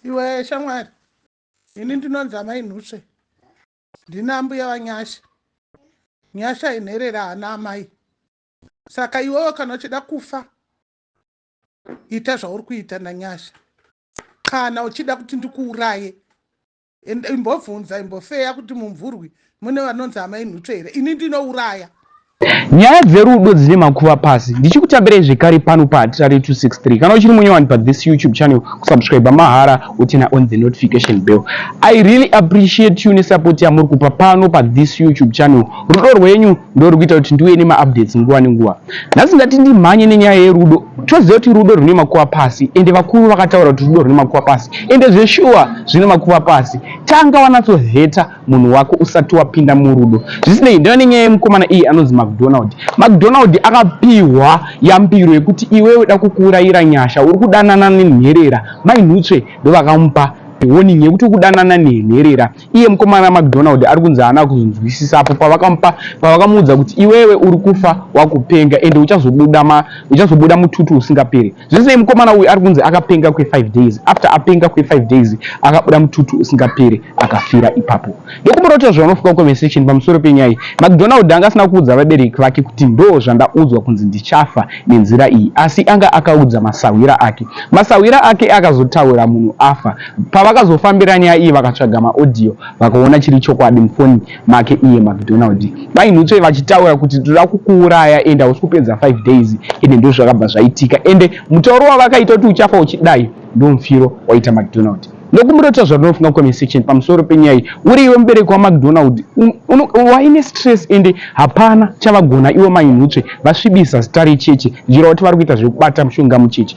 iwe shamwari ini ndinonzi amai nhusve ndina ambuya vanyasha nyasha inherera hana amai saka iwewo kana uchida kufa ita zvauri kuita nanyasha kana uchida kuti ndikuuraye And imbobvunza imbofeya kuti mumvurwi mune vanonzi amai Nhutwe here? Ini ndinouraya. Nyaya dzerudo dzine makuva pasi. Ndichikutambirai zvekare pano pa Hatitare 263. Kana uchiri munyowani pa this YouTube channel, kusubscriber mahara wotena on the notification bell. I really appreciate you nesupport yamuri kupa pano pa this YouTube channel. Rudo rwenyu ndori kuita kuti ndiuye nemaupdates nguva nenguva nhasi ndati ndimhanye nenyaya yerudo toziva kuti rudo rune makuva pasi ende vakuru vakataura kuti rudo rune makuva pasi ende zveshuwa zvine makuva pasi tanga wanatsoheta munhu wako usati wapinda murudo zvisinei ndava nenyaya yemukomana iyi anonzi macdonald macdonald akapihwa yambiro yekuti iwe uda kukuurayira nyasha uri kudanana nenherera mai nhutsve ndovakamupa warning yekuti ukudanana nenherera Iye mukomana Macdonald ari kunzi haana kuzonzwisisa apo pavakamupa pavakamuudza kuti iwewe uri kufa wakupenga ende uchazobuda ma uchazobuda mututu usingaperi. Zvisinei mukomana uyu ari kunzi akapenga kwe 5 days after apenga kwe 5 days akabuda mututu usingaperi akafira ipapo. Ndokumurota zvavanofunga conversation pamusoro penyaya iyi. Macdonald anga asina kuudza vabereki vake kuti ndoo zvandaudzwa kunzi ndichafa nenzira iyi asi anga akaudza masahwira ake. Masahwira ake akazotaura munhu afa Pavakazofambira nyaya iyi vakatsvaga maaudio vakaona chiri chokwadi mufoni make iye Macdonald vainhutsve vachitaura kuti toda kukuuraya ende hausi kupedza 5 days ende ndozvakabva zvaitika ende mutauro wavakaita kuti uchafa uchidai ndomufiro waita Macdonald ndokumurota zvarinofunga comment section pamusoro penyaya iyi uri iwe mubereki waMacdonald waine stress ende hapana chavagona iwe mainhutsve vasvibisa zita recheche zvichireva kuti vari kuita zvekubata mushonga mucheche